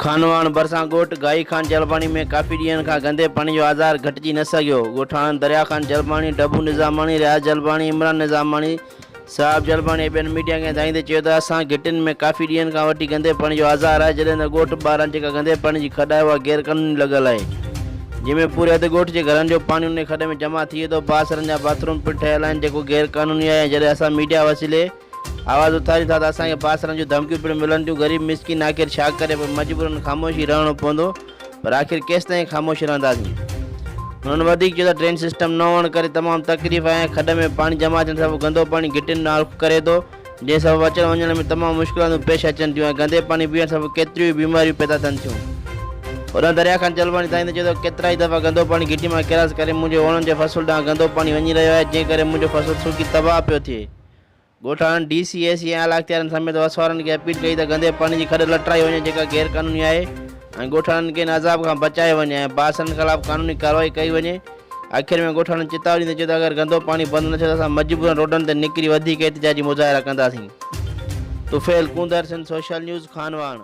خانواهڻ ڀرسان ڳوٺ گاهي خان جلباڻي ۾ ڪافي ڏينهن کان گندي پاڻي جو آزار گهٽجي نه سگهيو. ڳوٺاڻن دريا خان جلباڻي، ڊڀو نظاماڻي، رياض جلباڻي، عمران نظاماڻي، صاحب جلباڻي ۽ ٻين ميڊيا کي ھدايندي چيو ته اسان گھٽين ۾ ڪافي ڏينھن کان وٺي گندي پاڻي جو آزار آھي جڏھن ته ڳوٺ ٻاھران جيڪا گندي پاڻي جي کڏ آھي اھا غير قانوني لڳل آھي جنھن ۾ پوري اڌ ڳوٺ جي گھرن جو پاڻي انھي کڏ ۾ جمع ٿئي ٿو بااثرن جا باٿروم پڻ ٺھيل آھن جيڪو غير قانوني آھي ۽ جڏھن اسان ميڊيا وسيلي آواز اٿاريون ٿا ته اسان کي بااثرن جون ڌمڪيون پڻ ملن ٿيون غريب مسڪين آخر ڇا ڪري پر مجبورن خاموشي رھڻو پوندو پر آخر ڪيستائين خاموش رهنداسين. هنن وڌيڪ چيو ته ڊرين سسٽم نه هئڻ ڪري تمام تڪليف آهي ۽ کڏ ۾ پاڻي جمع ٿيڻ سبب گندو پاڻي گهٽين ڏانهن رخ ڪري ٿو، جنهن سبب اچڻ وڃڻ ۾ تمام مشڪلاتون پيش اچن ٿيون ۽ گندي پاڻي پيئڻ سبب ڪيتريون ئي بيماريون پيدا ٿين ٿيون. هوڏانهن دريا خان جلباڻي ڌائيندي چيو ته ڪيترائي دفعا گندو پاڻي گهٽي مان ڪراس ڪري منهنجي اوڻن جي فصل ڏانهن گندو پاڻي وڃي رهيو آهي، جنهن ڪري منهنجو فصل سڪي تباهه پيو ٿئي. ڳوٺاڻن ڊي سي، اي سي ۽ اعليٰ اختيارين سميت وس وارن کي اپيل ڪئي ته گندي پاڻي جي کڏ لٽرائي وڃي جيڪا غير قانوني آهي ۽ ڳوٺاڻن کي ان عذاب کان بچايو وڃي ۽ بااثرن خلاف قانوني ڪارروائي ڪئي وڃي. آخر ۾ ڳوٺاڻن چتاء ڏيندي چيو ته اگر گندو پاڻي بند نه ٿيو ته اسان مجبورن روڊن تي نڪري وڌيڪ احتجاجي مظاهرا ڪنداسين. طفيل ڪونڌر سنڌ سوشل نيوز خانواهڻ.